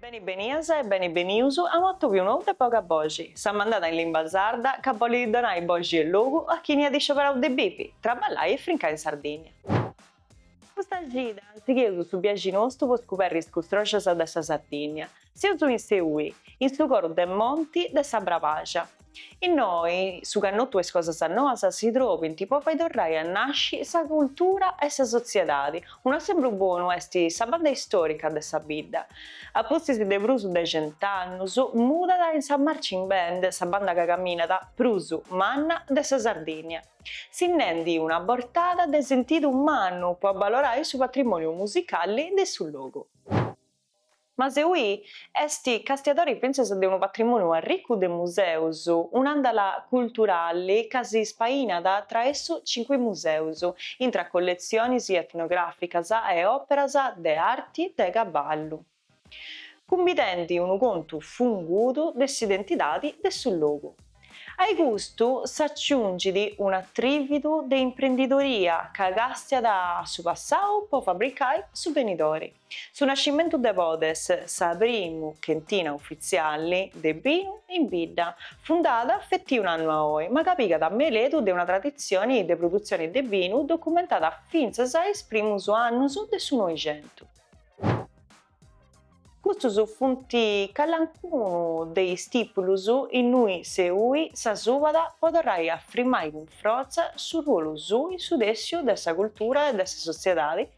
Beni benias e beni benius a un'atòbiu nou de Boga Boxi, sa mandada in limba sarda ca bolit donai boxi e logu a chini at iscioberau de bivi, traballai e frincai in Sardigna. Custa cida sigheus su biaxi nostu po scuberri is custroxas de sa Sardigna, seus in Seui, in su coru de monti de sa Brabaxa. Innoi su cannotu e is cosas noas si trobint po fai torrai a nasci sa cultura e sa sotziedadi. Unu esempru bonu est sa banda istorica de sa bidda. A pustis de prus de cent'annus mudat in sa Marching Band, sa banda ca caminat prus manna de sa Sardìnnia, sinnendi una bortada de sentidu mannu po abbalorai su patrimoniu musicali de su logu. Ma Seui est castiadori fintzas de unu patrimòniu arricu de museus, un'àndala culturali ca si ispainat traessu cincu museus, intra colletzionis etnogràficas e òperas de arti de cabali, cumbidendi unu contu fungudu de s'identidadi de su logu. Ai custu s'aciungit un'atrìvidu de imprendidoria ca càstiat su passau po fabricai su benidori. Su nascimentu de Podes, sa primu chentina ufitzialli de binu in bidda, fundada feti un annu a oi, ma ca pigat meledu de una traditzioni de prudutzioni de binu documentada fintzas a is primus annus de su Noixentu. Custus funt calancunu de is tìtulus innui Seui sa subada po torrai a frimai cun frotza su ruolu suu in su tèssiu de sa cultura e de sa sotziedadi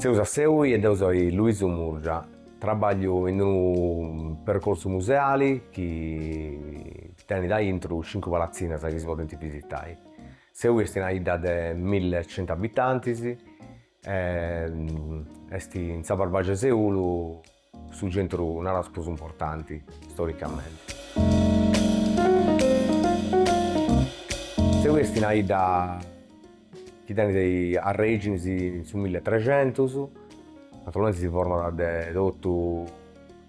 Seus a Seui e deu soi Luisu Murgia, trabagliu in unu percorsu museali chi tenit aintru cincu palatzinas chi si podint bisitai. Seui est una 'idda de mille centu abitantis e est in sa Barbagia 'e Seulu su centru naraus prus importanti storicamenti. Seui est una 'idda chi tenit arreginis in su mille trexentus, naturalmenti si format de totu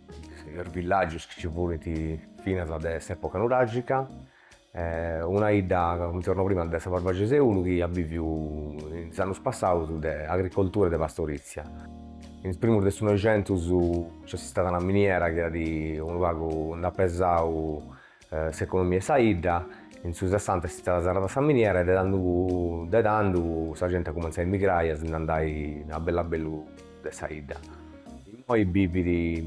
is villagius chi ci furint finas de s'epoca nuragica una 'idda comenti narau prima de sa Barbagia 'e Seulu chi at viviu in is annus passaus de agricoltura e de pastorizia. In is primus de su Noixentus nc'est istada una miniera chi at unu pagu nd'at pesau s'economia 'e sa 'idda, in su Sessanta est istada serrada sa miniera e de tanduu de tandu sa genti at cumenzau a emigrai e a si nd'andai a bellu a bellu de sa 'idda. Immoi bivit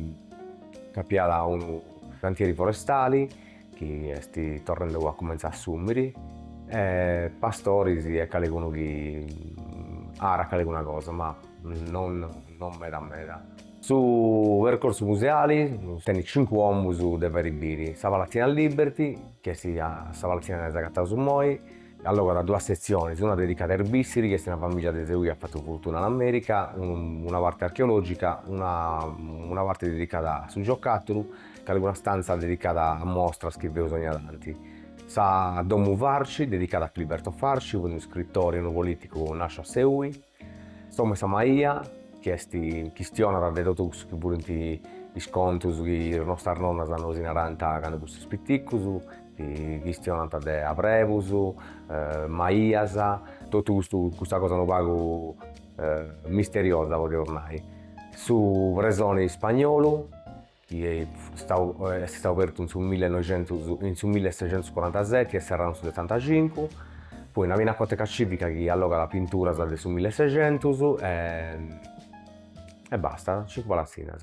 ca nci at unu cantieri forestali chi est torrende a cumentzare a assùmiri, e pastoris e calicunu chi arat calicuna cosa, ma non non meda meda. Su percorsu museali tenit cincu omus de fai biri, sa Palatzina Liberty, chi est sa palatzina chi aundi s'agataus immoi, Allogat duas setziones, una dedicada a is Bissiri, chi est una famìllia de Seui chi at fatu furtuna in Amèrica, una parte archeològica, una parte dedicada a su giocàtulu, calicuna stanza dedicada a mostras chi feus ogna tanti. Sa Domu Farci, dedicada a Filiberto Farci, unu iscritore e unu polìticu nàsciu a Seui. S'omu 'e sa maia, chi est chistionat de totu cussu chi furint is contus chi is nostras nonnas nosi narant candu fustis piticus, chi chistionant de abrebus, maias, totu custu custa cosa unu pagu misteriosa podiaus nai, su presoni spagnolu chi est istadu abertu in su millenoixentus in su millesexentuscorantaseti e serradu in su setantacincu, poi una pinacoteca civica chi allogat pinturas de su millesexentus e e basta, cincu palatzinas.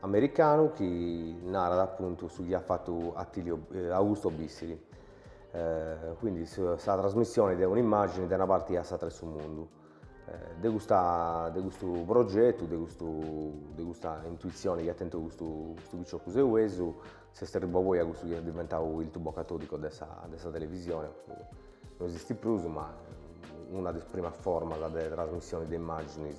americanu chi narat appuntu su chi at fatu Attilio Augusto Bissiri, quindi sa trasmissione de un'immagine de una parte a s'atra 'e su mundu, de custa de custu progetu, de custu de custa intuizione chi at tentu custu custu piccioccu seuesu, s'est arribbau poi a cussu chi est diventau il tubo catodico de sa de sa televisione, no esistit prus ma una de is primas formas de trasmissione de immagines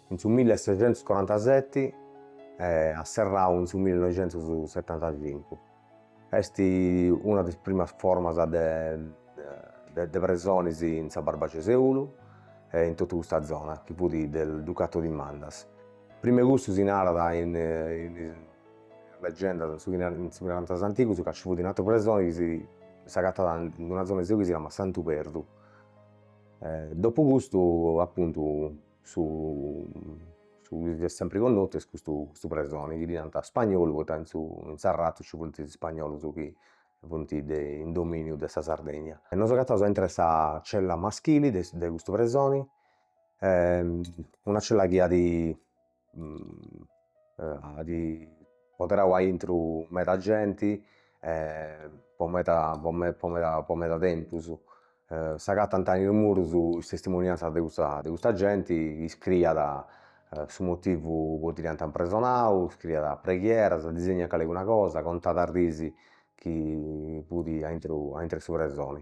in su mille e secentus corantaseti e at serrau in su mille noixentus setantacincu, est una de is primas formas de de presonis in sa Barbagia 'e Seulu e in totu custa zona chi fut de su Ducato di Mandas, prima 'e custu si narat in is legendas in su in su chi narant is antigus ca ci fut un'ateru presoni chi si s'agatat in una zona 'e Seulu chi si namat Santu Perdu, dopu custu apuntu Su su chi est sempri connotu est custu custu presoni chi ddi nant ispagnolu poita in su in Sarratu ci funt is ispagnolus chi funt de in dominiu de sa Sardegna e nos agataus a intru 'e sa cella maschili de de custu presoni una cella chi at at apoderau a intru meda genti po meda po meda tempus S'agatant in is murus is testimoniantzas de custa de custa genti, iscriiat su motivu poita dd'iant impresonadu, iscriiat preghieras, disegnàt calicuna cosa, contàt is dis chi fut a intru a intru 'e su presoni.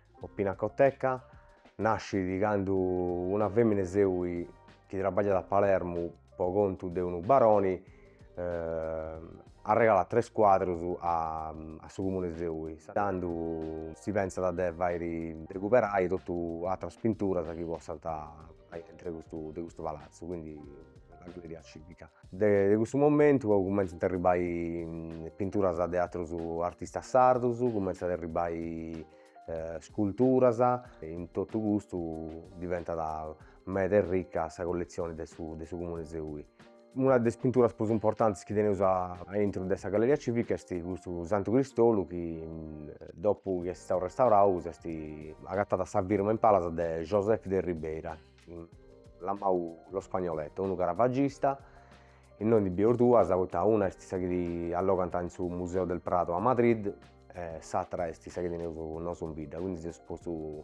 O Pinacoteca nascit candu una fèmina 'e Seui chi trabagliat a Palermu pro contu de unu baroni arregalat tres cuadrus a a su comune 'e Seui tandu si pensat de fai e recuperai totu àteras pinturas chi possant Aintru de custu de custu palatzu, quindi una galeria civica. De de custu momentu cumenzant a arribbai pinturas de atterus artistas sardos, cumenzant a arribbai sculturas e in tottu custu diventat meda ricca sa collezione de su de su comune 'e Seui Una de is pinturas prus importantis chi teneus a intru de sa Galleria Civic est custu Santu Cristolu chi dopu chi est istau restaurau s'est agatada sa firma in palas de Joseph de Ribera, lamau lo Spagnoletto, unu caravagista, innoi ndi bideus duas poita una est sa chi allogant in su Museo del Prado a Madrid e s'atera est sa chi teneus nosu in bidda, quindi s'est postu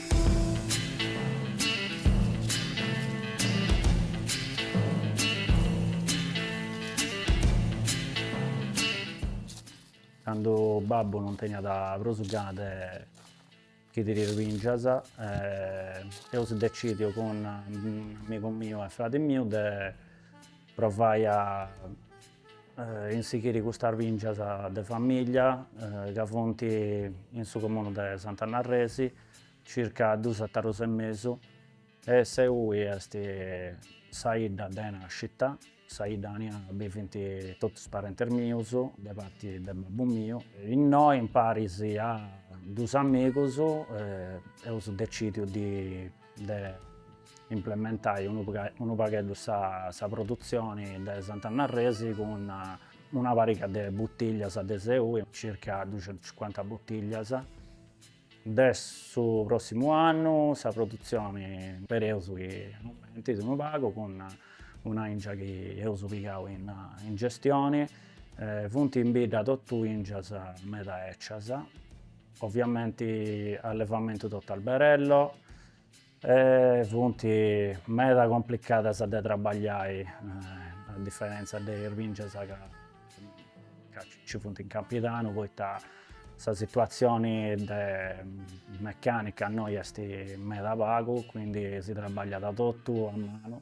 Candu babbu non teniat prus gana de sighiri is bìngias eus decìdiu cun unu amigu miu e fradi miu de provai a a sighiri custas bìngias de famìllia ca funt in su comunu de Sant'Anna Arresi circa duus etarus e mesu e Seui est sa idda de nàscita, sa idda aìa bivint totus is parentis mius de parti de babbu miu. Innoi imparis a duus amigus eus decìdiu de implementai unu pagheddu sa produtzioni de Sant'Anna Arresi cun una pariga de butillias de Seui, circa ducientucincuanta butillias, de su prossimu annu sa produtzioni spereus chi aumentit unu pagu cun una ingia chi eus pigau in gestioni, funt in bidda totu ingias meda ecias, oviamenti allevamentu totu alberello, E funt meda complicadas de trabagliai a diferentza de is bìngias ca nci funt in Campidanu poita sa situatzioni de mecànica innoi est meda pagu, quindi si trabagliat totu a manu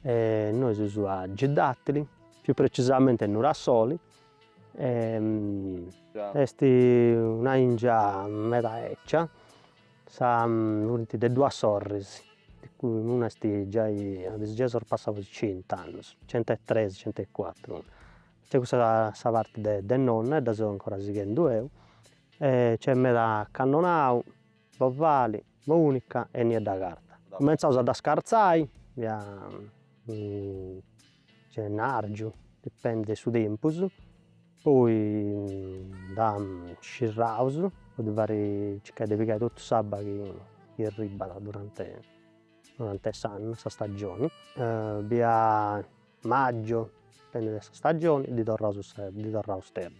E nois seus a Giddàtili, più precisamente a Nurassoli, est una ingia meda ecia, sa funt de duas sorris, de cui una est giai, est giai sorpassau is cent'annus, centu e tresi centu e cuatru, nc'est cussa sa parti de nonna e dda seu ancora sighendu eu e nc'est meda cannonau Bovali, Mùnica e Niedda Carta. Cumentzaus a dda scartzai, bia gennàrgiu, dipendit de su tempus, poi dda scirraus po ddi fai circai de pigai totu s'abba chi chi arribbat durante durante s'annu, sa stagioni, bia magiu, dipendit de sa stagioni, ddi torraus ddi torraus terra,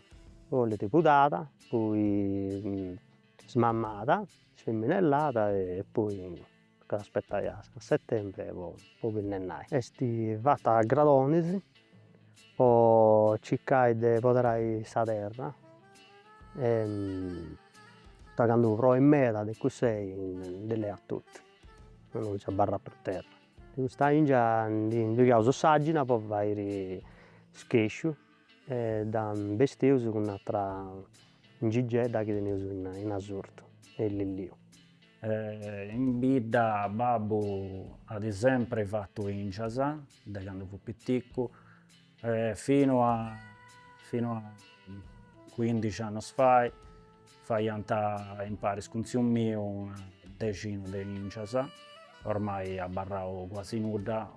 bollit pudada, poi Smammada, sfemminellada e poi tocat aspetai a settembre po po binnennai. Est fata a gradonis po circai de poderai sa terra e poita candu proit meda de cussei ndi leat totu e non nci abarrat prus terra. In custa ingia ndi ndi pigaus s'àgina po fairi Schesciu e dda bestius cun atra Ingigedda chi tenius in Asurtu e in Lilliu. E in bidda babbu at sempri fatu ingias, de candu fut piticu, e finu a finu a cuindixi annus fai, faiant imparis cun tziu miu una dexina de ingias, ormai abarrau cuasi nudda,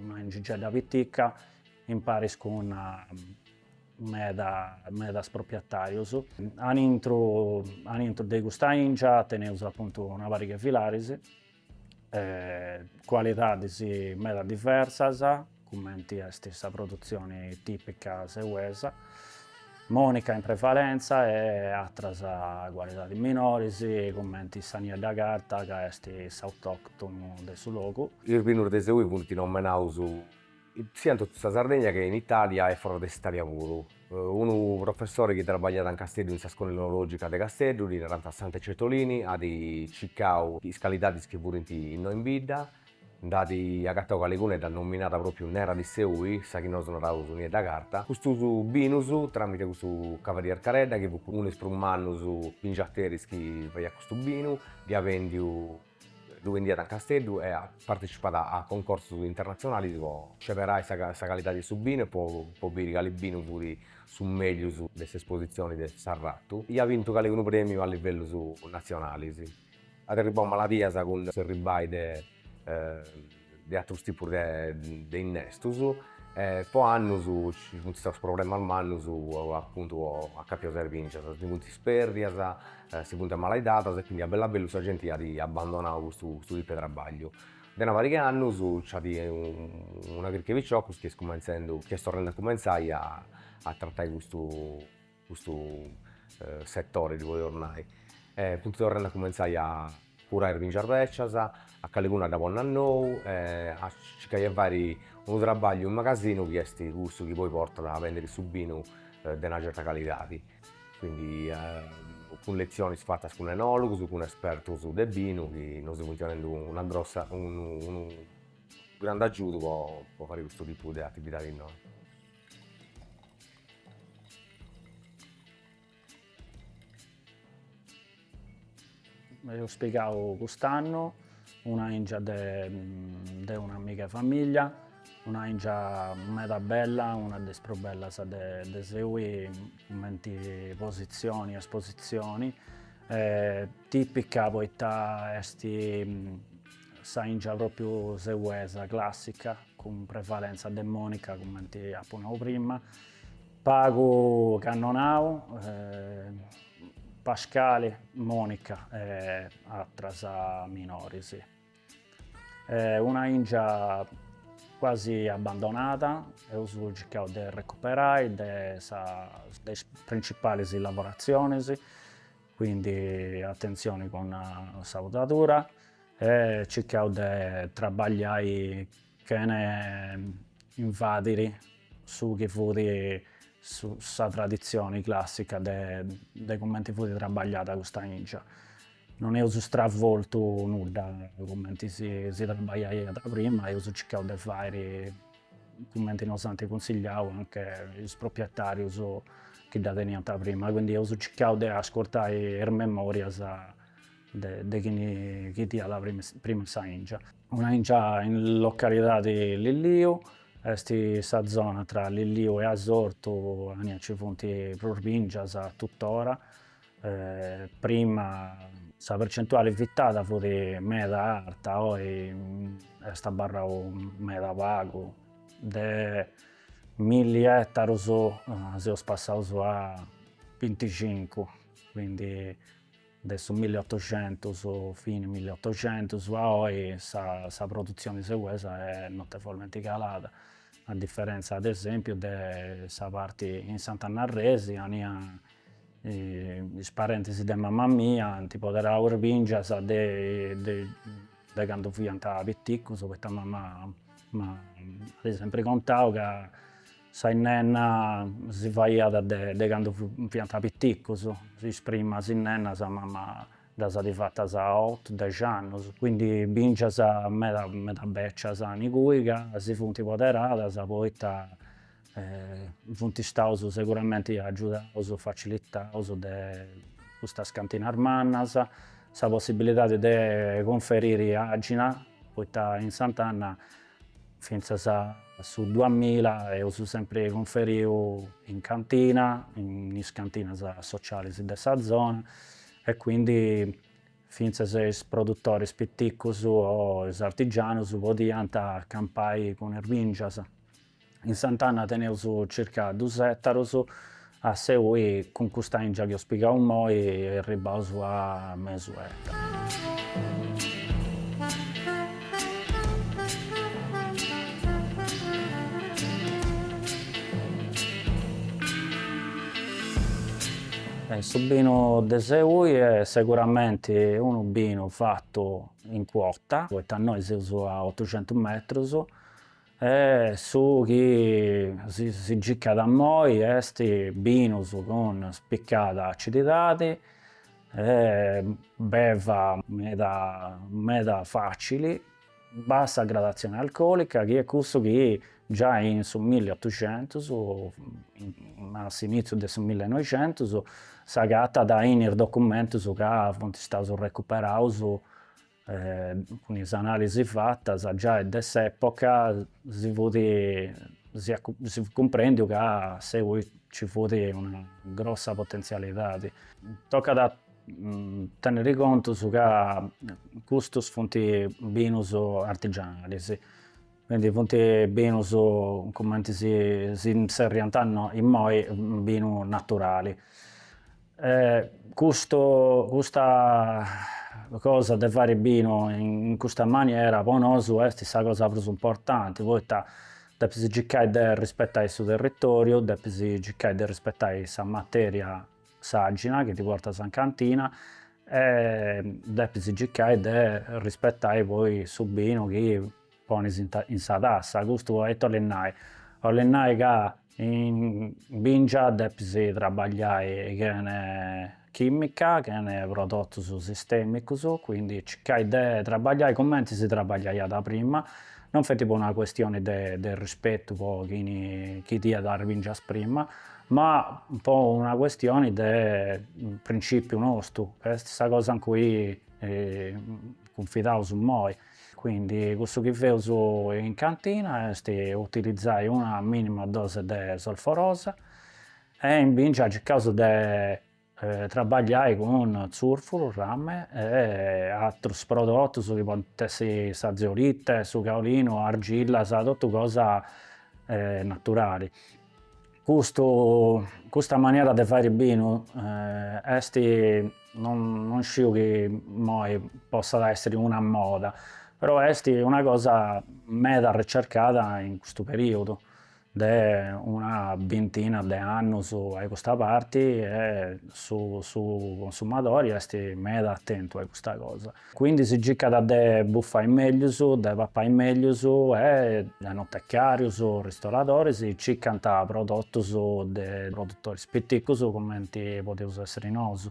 una ingigedda pitica imparis cun meda medas proprietarius. Aintru aintru de custa ingia teneus apuntu una pariga 'e filaris, cualidadis meda diversas, cumenti est sa produtzioni tipica seuesa, monica in prevalenza e atras cualidadis minoris cumenti sa niedda carta ca est s'autoctonu de su logu. Is binus de seui funt nomenaus. Siat in totu sa Sardegna che in Italia e foras de s'Italia puru. Unu professore chi trabagliat in Casteddu in sa Scola Enologica de Casteddu, ddi narant Sante Cettolini, at circau is calidadis chi furint innoi in bidda, nd'at agatau caliguna e dd'at nominada propriu nera di Seui, sa chi nosu naraus niedda carta, custus binus tramite custu cavalier Caredda chi fut unu de is prus mannus bingiateris chi faiat custu binu, ddi at bendiu. ddu bendiat in Casteddu e at partecipau a a concorsus internatzionalis po sceberai sa sa calidadi 'e su binu e po po biri cali binu fut su meglius de s'espositzioni de s'arratu. E at bintu caligunu premiu a livellus natzionalis. At arribau maladias cun s'arribai de de atrus tipus de innestus e po annus ci funt staus problemas mannus apuntu a capu a is bìngias, si funt spèrdias, si funt amalaidadas e quindi a bellu a bellu sa genti at abbandonau custu tipu 'e trabagliu. De una pariga 'e annus nc'at una crica 'e piciocus chi est cumentzendu, chi est torrendu a cumentzai a tratai custu custu setore si podeus nai e funt torrendi a cumentzai a curai is bìngias bècias, a caliguna dda ponni a nou e a circai 'e fai unu trabagliu in magasinu chi est cussu chi poi portat a bèndiri su binu de una certa calidadi, quindi cun letzionis fatas cun enòlogus, cun espertus de binu chi nos funt donendu una grossa unu unu grandu agiudu po fai custu tipu de atividadi innoi Eus pigau cust'annu una ingia de de un'amiga 'e famiglia, una ingia meda bella, una de is prus bellas de de seui cumenti positzioni, espositzioni, tipica poita esti Sa ingia propiu seuesa, classica, cun prevalenza de monica cumenti apu nau prima, pagu cannonau, pascali, monica e atras minoris. Una ingia quasi abbandonada, eus circau de recuperai de is principalis lavoratzionis Quindi attenzioni cun sa pudadura e circau de trabagliai chene invadiri su chi fut sa traditzioni classica de cumenti fut trabagliada custa ingia. Non eus stravoltu nudda cumenti si trabagliaiat prima, eus circau de fairi cumenti nos ant cunsigliau anche is propietàrius chi dda teniant prima, quindi eus circau de ascurtai is memòrias de chini chistiat prima sa 'ingia. Una 'ingia in localidadi Lilliu, est sa zona tra Lilliu e Asortu, ania nci funt prus bìngias tuttora Prima sa percentuale vitada fut meda arta, oi est abarrau meda pagu, de milli ettaros seus passaus a binticincu, quindi de su milli ottoxentus, fini milli ottoxentus a oi sa sa produtzioni seuesa est notevolmenti calada, a differenza ad esempiu de sa parti in Sant'Anna Arresi ania is parentis de mamma mia ant poderau is bingias de candu fiant piticus poita mamma m'at sempri contau ca sa 'innenna si faiat de candu fiant piticus, is primas 'innennas mamma ddas at fatas a otu dexi annus, quindi bingias meda meda becias an ingui ca si funt poderadas poita Funt istaus seguramenti agiudaus, facilitaus de custas cantinas mannas, sa possibilidadi de cunferiri agina, poita in Sant'Anna fintzas a su duamilla eus sempri cunferiu in cantina, in is cantinas socialis de sa zona e quindi fintzas is produtoris piticus o is artigianus podiant campai cun is bingias. In Sant'Anna teneus circa dus ettaros, a Seui cun custa ingia chi eus pigau moi erribaus a mesu ettaro. Su binu de Seui est seguramenti unu binu fatu in cuota, poita noi seus a otucentus metrus E su chi si circat immoi est binus cun spicada acididadi, beva meda meda facili, bassa gradatzioni alcolica chi est cussu chi giai in su milli e otucentus, a s'initziu de su milli e noicentus, s'agatat in is documentus ca funt staus recuperaus cun is analisi fatas giai de s'epoca si fut cumprendiu ca innoi ci fut una grossa potenzialidadi. Tocat a tenniri contus ca custus funt binus artigianalis, quindi funt binus cumenti si si zerriant immoi binu naturali. Custu custa cosa de fairi binu in custa maniera po nosu est sa cosa prus importanti poita depis circai de arrispetai su territoriu, depis circai de arrispetai sa materia s'àxina chi ti portas in cantina e depis circai de arrispetai poi su binu chi Ponis in sa tassa, custu ite 'olit nai? 'olit nai ca in bìngia depis trabagliai chene chìmica, chene prodotus sistèmicus, quindi circai de trabagliai cumenti si trabagliaiat prima, non feti po una custioni de de rispetu po chini teniat bìngias prima, ma po una custioni de principiu nostu, est sa cosa in cui cunfidaus nosu Quindi cussu chi feus in cantina est utilizai una minima dose de solforosa e in bingia circaus de trabagliai cun zurfuru, rame e atrus prodotus chi podint essi sa zeolite, su caolinu, argillas, totu cosa naturali. Custu custa maniera de fairi binu est non sciu chi immoi possat essiri una moda, però est una cosa meda ricercada in custu periudu de una bintina de annus a custa parti e su su consumadori est meda attentu a custa cosa. Quindi si circat de bufai meglius, de papai meglius e enotecarius, ristoradoris circant prodotus de produtoris piticus cumenti podeus essiri nosu.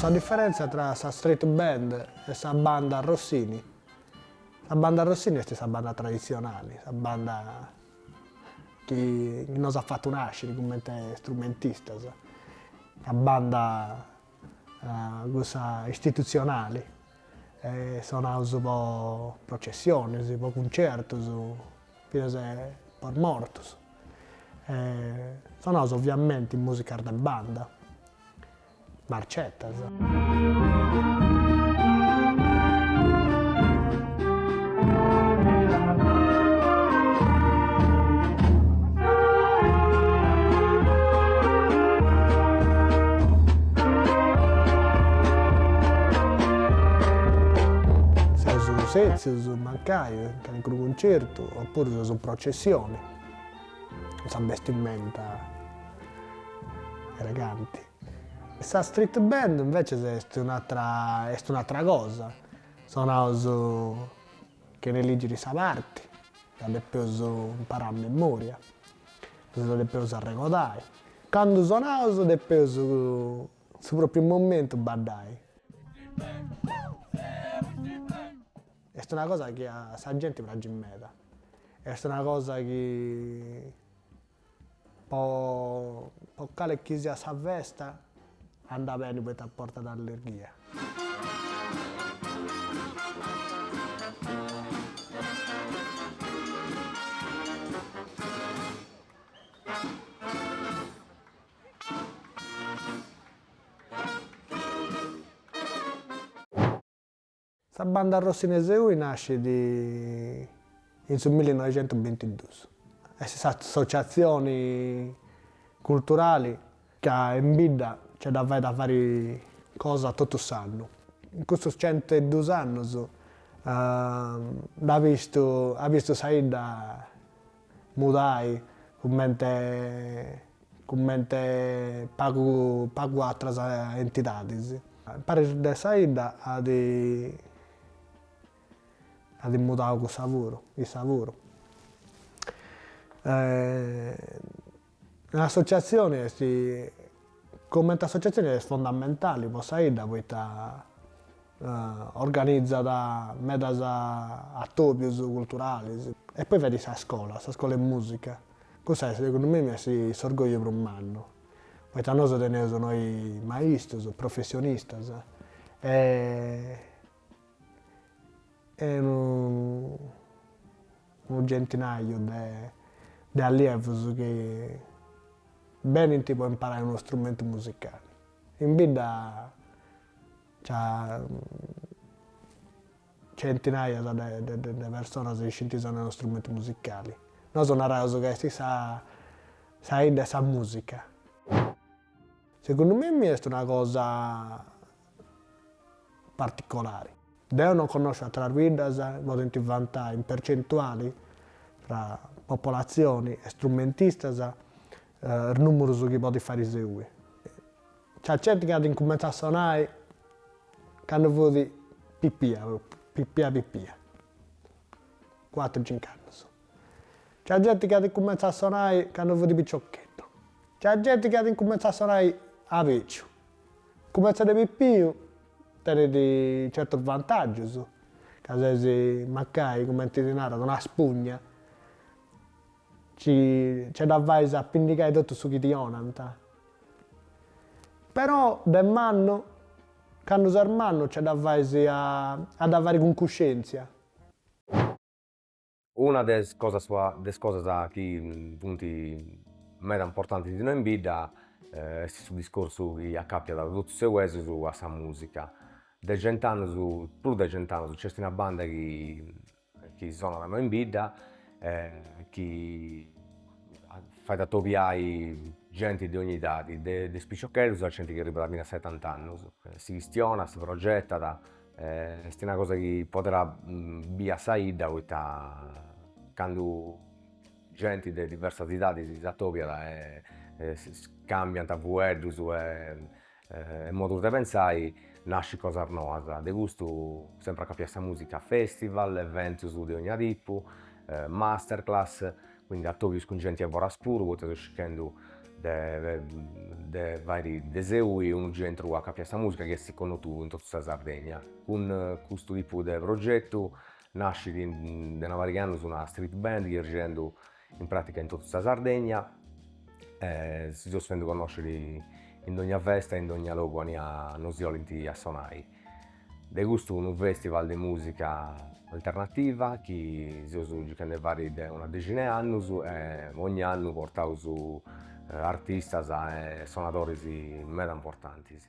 Sa diferèntzia tra sa street band e sa banda Rossini, sa banda Rossini est sa banda traditzionali, sa banda chi nos at fatu nàsciri cumenti strumentistas, sa banda cussa istitutzionali, e sonaus po processionis, po cuncertus, finas po mortus. Sonaus oviamenti musicas de banda, marcetas. Seus o sètzius, mancai in calincunu cuncertu, opuru seus in processioni, cun sa bestimenta eleganti. Sa street band invècias est un'atra, est un'atra cosa Sonaus chene ligiri sa parti, dda depeus imparai a memoria, si dda depeus arregodai. Candu sonaus depeus su propriu momentu baddai. Est una cosa chi a sa genti pragit meda, est una cosa chi Po po cali chi siat sa festa anda beni poita portat allerghia. Sa banda Rossini in Seui nascit in su millinoixentubintidus, est s'associatzioni culturali ca in bidda nce dda fait a fari cosa totu s'annu. In custus centu e dus annus nd'at bistu, at bistu sa 'idda mudai cumenti cumenti pagu atras entidadis. Paris de sa 'idda at mudau cussa puru, issa puru. S'associatzioni est, cumenti associatzioni est fondamentali po sa 'idda poita organizat medas atobius culturalis. E poi fait sa scola, sa scola 'e musica, cussa est segundu mimi est s'orgogliu prus mannu, poita nosu teneus innoi maistus, professionistas e e unu centinaju de allievus chi benint po imparai unu strumentu musicali. In bidda nci at centinajas de personas chi scinti sonai unu strumentu musicali. Nosu naraus ca esti sa idda 'e sa musica. Segundu mimmi est una cosa particolari. Deu non connosciu atras biddas, podint vantai in percentuali tra popolatzioni e strumentistas is nùmerus chi podit fai Seui. Nci at genti chi at incumentzau a sonai candu fut pipia propriu, pipia pipia, cuatru cincu annus. Nci at genti chi at incumentzau a sonai candu fut piciocheddu. Nci at genti chi at incumentzau a sonai a beciu Cumenzai de pipiu tenit certus vantaggius, ca ses mancai cumenti si narat una spugna, nci dda fais a pindigai totu su chi ti 'onant. Però de mannu, candu ses mannu nci dda fais a dda fari cun cuscientzia. Una de is cosas de is cosas chi funt meda importantis inoi in bidda est su discorsu chi acapiat totu is seuesus a sa musica, de cent'annus prus de cent'annus nc'est una banda chi chi sonat innoi in bidda e chi fait atobiai genti de ogni idadi, de is piciocheddus a genti chi arribbat fina a setant'annus, si chistionat, si progetat Est una cosa chi poderat bia sa 'idda poita candu genti de diversas idadis s'atobiat e cambiant fueddus e modus de pensai nascit cosas noas, de custu sempre acapiau a sa musica, festival, eventus de ogna tipu, masterclass Quindi atobius cun genti 'e foras puru, poita seu circhendu de fari de Seui unu centru acapiau a sa musica chi essit connotu in totu sa Sardegna. Cun custu tipu de progetu nascit de una pariga 'e annus una street band chi est girendu in pratica in totu sa Sardegna e si seus fendu connosciri in dogna festa e in dogna logu 'ania nosi 'olint a sonai. De custu unu festival de musica alternativa chi seus circhendu 'e fari de una dexina 'e annus e ogn'annu portaus artistas e sonadoris meda importantis.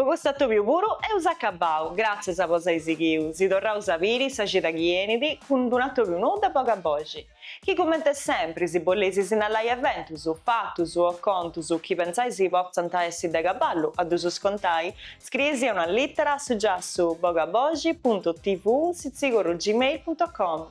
Po custu atobiu puru eus acabau, gràtzias po s'ai sighiu, si torraus a biri sa cida chi enit cun d'unu atobiu nou de boga boxi, chi cumenti sempri si boleis sinnalai eventus, fatus o contus chi pentzai si potzant essi de caballu a ddusus contai, scriei·sì una lìtera a su giassu bogaboxi puntu tv sitzigorru gmail puntu com.